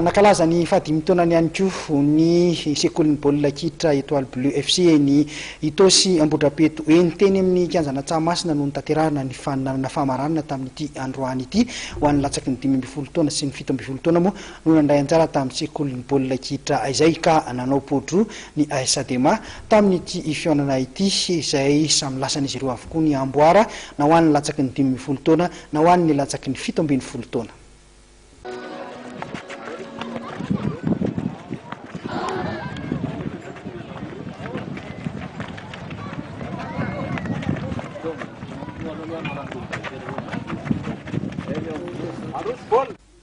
Nankalaza ny fahadimy taonany ihany koa ny sekolin'ny baolina kitra Etoile Bleue FC eny Itaosy Ambohidrapeto eny. Teny amin'ny kianjana Tsahamasina no notanterahana ny faninanana famaranana tamin'ity androany ity ho an'ny latsaky ny dimy ambin'ny folo taona sy ny fito ambin'ny folo taona moa no nandray anjara tamin'ny sekolin'ny baolina kitra izay ka nanao poa-droa ny AS Adema tamin'ity fihaonana ity izay samy lasan'izy ireo avokoa ny amboara na ho an'ny latsaky ny dimy ambin'ny folo taona na ho an'ny latsaky ny fito ambin'ny folo taona.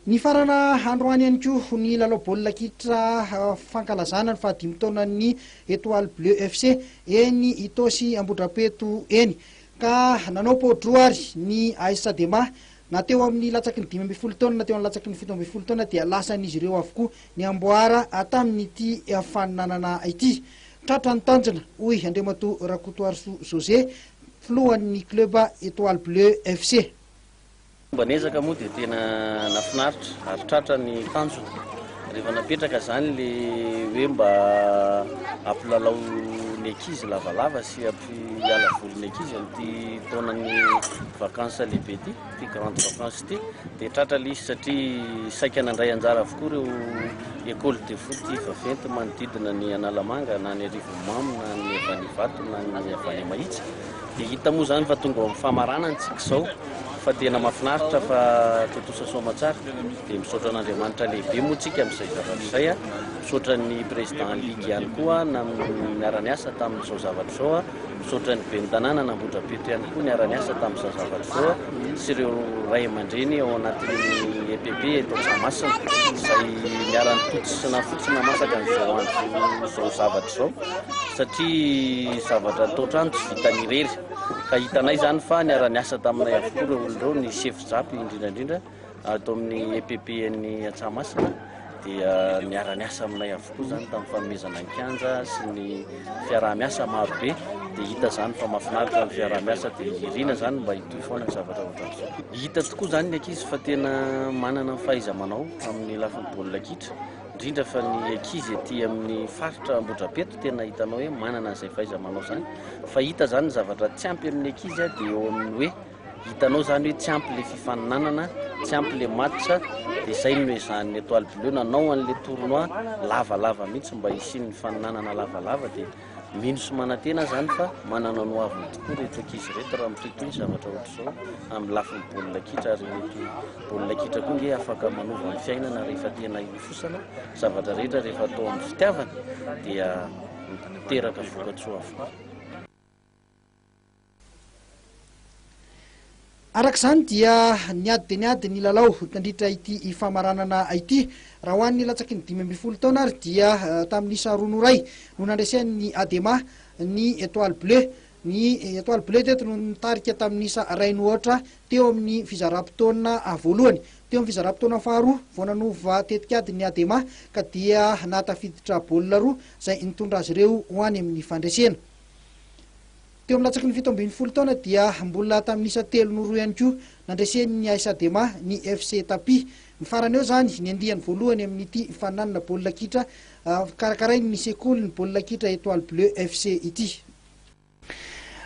Nifarana androany ihany koa ny lalao baolina kitra fankalazana ny fahadimy taonan'ny Etoile Bleu FC eny Itaosy Ambohidrapeto eny ka nanao pôdroa ary ny AS Adema Na teo amin'ny latsaky ny dimy ambin'ny folo taona na teo amin'ny latsaky ny fito ambin'ny folo taona dia lasan'izy ireo avokoa ny amboara tamin'ity faninanana ity. Tratra ny tanjona, hoy Andriamatoa Rakotoarisoa José, filohan'ny club Etoile Bleue FC. Fomba niezaka moa dia tena nahafinaritra ary tratra ny tanjona. Rehefa napetraka izany ilay hoe mba hampilalao ny ankizy lavalava sy. Tsy hiala voly ny ankizy amin'ity taonan'ny vacances lehibe ity, ity grande vacances ity. Dia tratra ilay izy satria saika nandray anjara avokoa ireo école de foot vaventy manodidina ny Analamanga na ny Arivonimamo na ny avy any Ivato na ny avy any Mahitsy. Dia hita moa izany fa tonga ao amin'ny famaranana isika izao fa tena mahafinaritra fa tontosa soamantsara. Dia misaotra an'Andriamanitra lehibe moa tsika amin'izay zavatra izay a! Misaotra ny Président Ligue ihany koa niara-niasa tamin'izao zavatra izao a! Misaotra ny Ben'ny Tanàna an'Ambohidrapeto ihany koa niara-niasa tamin'izao zavatra izao a! Sy ireo Ray aman-dReny ao anatin'ny EPP eto Antsahamasina izay niara-nipotsy sy nafotsy namasaka an'izao andro izao zavatra izao satria zavatra atao trano tsy vitany irery ka hitanay izany fa niara-niasa taminay avokoa ireo olona ireo, ny Sefo Japy indrindra indrindra. Ato amin'ny EPPN-n'i Antsahamasina dia niara-niasa aminay avokoa izany tamin'ny fanomezana ny kianja sy ny fiaraha-miasa maro be dia hita izany fa mahafinaritra ny fiaraha-miasa dia irina izany mba hitohy foana ny zavatra ohatran'izao. Hita tokoa izany ny ankizy fa tena manana ny fahaiza-manao amin'ny lafiny baolina kitra indrindra fa ny ankizy ety amin'ny faritra Ambohidrapeto tena hitanao hoe manana an'izay fahaiza-manao izany fa hita izany ny zavatra tsy ampy amin'ny ankizy dia eo amin'ny hoe Hitanao izany hoe tsy ampy ilay fifaninanana, tsy ampy ilay match, dia izay no noezahan'ny Etoile Bleue nanao an'ilay tournoi lavalava mihitsy mba hisian'ny fifaninanana lavalava dia mino sy manantena aho izany fa manana ny ho aviny tokoa ireto ankizy ireto raha mitohitohy ny zavatra ohatr'izao amin'ny lafiny baolina kitra ary mety baolina kitra koa nge afaka manova ny fiainana rehefa tena hilofosana zavatra rehetra rehefa atao amin'ny fitiavana dia miteraka vokatsoa avokoa. Araka izany dia niady dia niady ny lalao nandritra ity famaranana ity. Raha ho an'ny latsaky ny dimy ambin'ny folo taona ary dia eh, tamin'ny isa roa noray no nandresen'ny Adema ny Etoile Bleu. Ny Etoile Bleu teto no nitarika tamin'ny isa iray nohoatra teo amin'ny fizaram-potoana ah, voalohany. Teo amin'ny fizaram-potoana faharoa vao nanova tetikady ny Adema ka dia nahatafiditra baolina roa izay nitondra azy ireo ho any amin'ny fandresena. Teo amin'ny latsaky ny fito ambin'ny folo taona dia mbola tamin'ny isa telo no roa ihany koa nandresen'ny AS Adema ny FC Tapi. Ny farany eo izany ny andiany voalohany amin'ity faninanana baolina kitra karakarain'ny sekolin'ny baolina kitra Etoile Bleue FC ity.